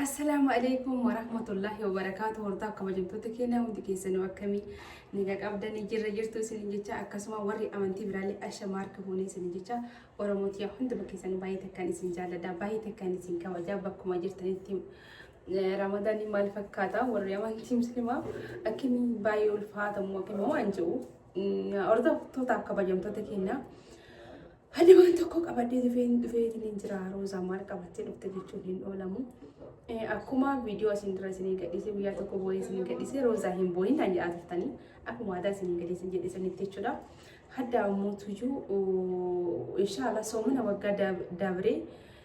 Assalaamu alaikum warahmatullahi wabarakaatu hortaa kabajamtoota keenya hundi keessanuu akkamii nagaa qabdanii jirra jirtu isinin jecha akkasuma warri amantii biraallee asha maarka fuunee isinin jecha oromootiyaa hunduma keessanii baay'ee takkaan isin jaalladha baay'ee takkaan isin kabajaa bakkuma jirtanitti ramadaanii maal fakkaata warri amantii muslimaa akkamii baay'ee ulfaatamu akkamii waan jedhu hordoftoota kabajamtoota keenyaa Ani waan tokko qabadhee dhufeen dhufeetiin jira Roozaa maal qabattee dhufte jechuun hin oolamu. Akkuma viidiyoo asiin dura isinii gadhiisee guyyaa tokko boo'ee isinii gadhiisee Roozaa hin boo'in kan jedhaa turtanii akkuma aadaa isinii gadhiisee jedhisanitti jechuudha. Hadda ammoo tuyyuu inshaallah soomana waggaa dabree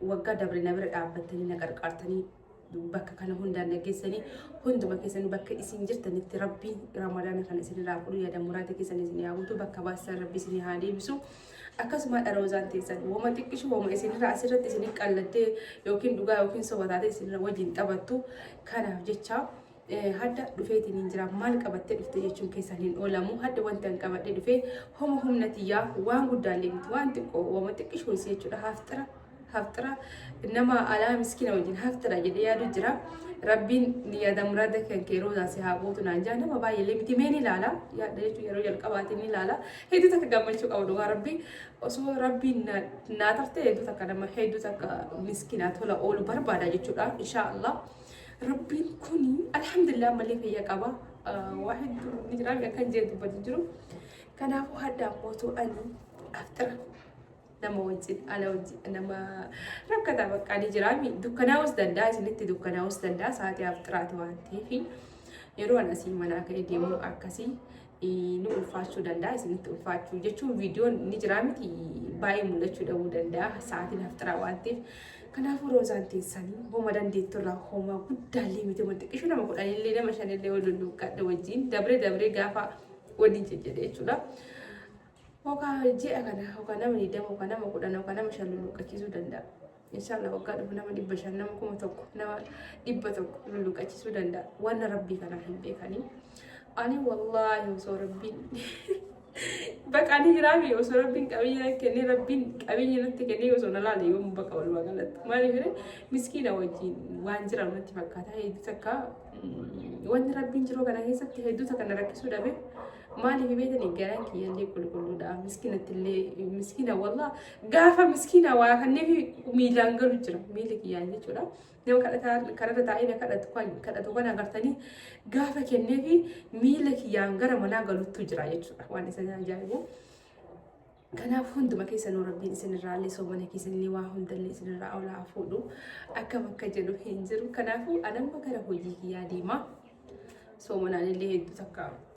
Waggaa dabre na bira dhaabbattanii na qarqaartanii bakka kana hundaan na geessanii hunduma keessanii bakka isin jirtanitti rabbiin ramadaana kana isin irraa fudhu yaada muraada keessan isin haa guutu bakka baasan rabbi isin haa deebisu akkasuma dharoozaan teessan woma xiqqishu woma isin irraa asirratti isin qallattee yookiin dhugaa yookiin soba taatee isin irra wajjin taphattu kanaaf jecha hadda dhufeetiin hin jira maal qabattee dhufte jechuun keessan hin oolamu hadda wanta hin qabadhe dhufe homa humna tiyyaa waan guddaallee miti waan xiqqoo wama xiqqishoo isii jechuudha haaftira haaftira nama alaa miskiina wajjin haaftira jedhee yaadu jira rabbiin yaada muraada kan kee roozaa si haa gootu naan jaa nama baay'eellee miti mee ni ilaala yaadda jechuun yeroo jalqabaatiin ni ilaala hedduu takka gammachuu qabu dhugaa rabbi osoo rabbiin naa tarte hedduu takka nama hedduu takka miskiinaa tola oolu barbaada jechuudha inshaallah. Rabbiin kun alhamdulillah ammallee fayya qaba. Waa hedduu ni jira akkan jee dubbatu jiru. Kanaafuu hadda mootuu ani aftira nama wajjin ala wajjin nama rakkataa bakka ni jira. Dukkanaa'us danda'a isinitti dukkanaa'us danda'a sa'aatii aftiraati waan ta'eef yeroo an asii manaa ka'ee deemu akkasii ni ulfaachuu danda'a isinitti ulfaachuu jechuun viidiyoon ni jiraa miti baay'ee mul'achuu dhabuu danda'a sa'aatiin hafxiraa waan ta'eef kanaafuu roozaan teessanii homa dandeettu irraa homaa guddaallee miti wanti qishuu nama kudhanillee nama shanillee wal lulluuqqadhe wajjin dabree dabree gaafa waliin jejjedhe jechuudha. Hokaa ji'a kana hokaa nama 20 hokaa nama 10 hokaa nama 5 lulluuqqachiisuu danda'a. Inshallah waggaa dhufu nama dhibba shan nama kuma tokko nama dhibba tokko lulluqachisuu danda'a. Wanna rabbii kana hin beekanii. Ani wallaahi osoo rabbiin baqa ani hiraami osoo rabbiin qabeenya natti kennee rabbiin qabeenya natti kennee osoo na laale yoom baqa walumaa galatti. Maaliif jedhee miskiina wajjin waan jiran natti fakkaata hedduu takka mm, wanni rabbiin jiruu kana keessatti hedduu takka na rakkisuu dhabe. Maaliif beekanii garaan kiyyallee qulqulluudha. Miskiinattillee miskiina wallaa Gaafa miskiina waa kanneefi miilaan galu jira. Miilli kiyyaan jechuudha. Nama kadhataa kanarra taa'ee na kadhatu kan kadhatu kan agartanii gaafa kenneefi miila kiyyaan gara manaa galuttu jira jechuudha. Waan isa ajaa'ibu. Kanaaf hunduma keessanuu rabbiin isinirraa illee soomana keessanillee waa hundallee isinirraa olaa fuudhu akkam akka jedhu hin jiru. Kanaafuu anamma gara hojii kiyyaa deema. Soomanaan illee hedduu takka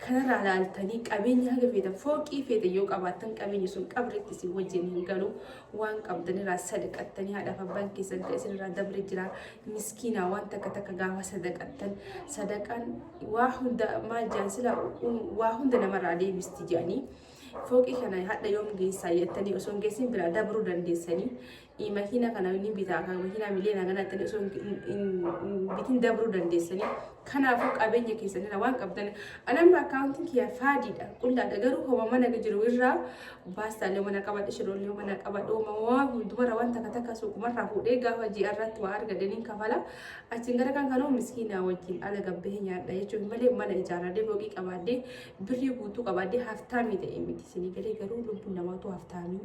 Kanarraa laaltanii qabeenya haga feetan fooqii feetan yoo qabaattan qabeenyi sun qabritti isin wajjin hin galu waan qabdanirraa sadaqattanii haadhaaf abbaan keessan kan isinirraa dabre jira miskiinaa waan takka takka gaafa sadaqattan sadaqaan waa hunda maal jaan sila waa hunda namarraa deebisti jedhanii fooqii kana hadha yoom geessaa jettanii osoo hin geessin biraa dabruu dandeessanii makiina kana ni bitaa kan makiinaa miliyoona kana ta'e osoo bitiin dabruu dandeessanii kanaafuu qabeenya keessanirra waan qabdan anamma akkaawuntiin kiyya faadiidha qullaadha garuu homa mana jiru irraa baastaalee mana qabadhe shiroolee mana qabadhe uumamaa hundumarra waan takka takka suuqumarraa fuudhee gaafa ji'a irratti waa argadaniin kafala achiin gara kan kanoo miskiinaa wajjin ala gabbee nyaadha jechuun malee mana ijaarradee boqii qabaadde birrii guutuu qabaadde haftaamii ta'e miti isinii galee garuu lubbuun namaatu haftaamii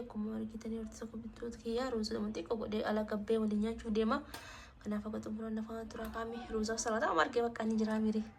akkuma argitanii hortisa bittoota kiyyaa ruuza dhuma xiqqoo godhee ala gabbee waliin nyaachuuf deema. Kanaaf akka xumuran lafaa turaa kaamee ruuzaaf salaata amma argee bakka inni jiraa miiree.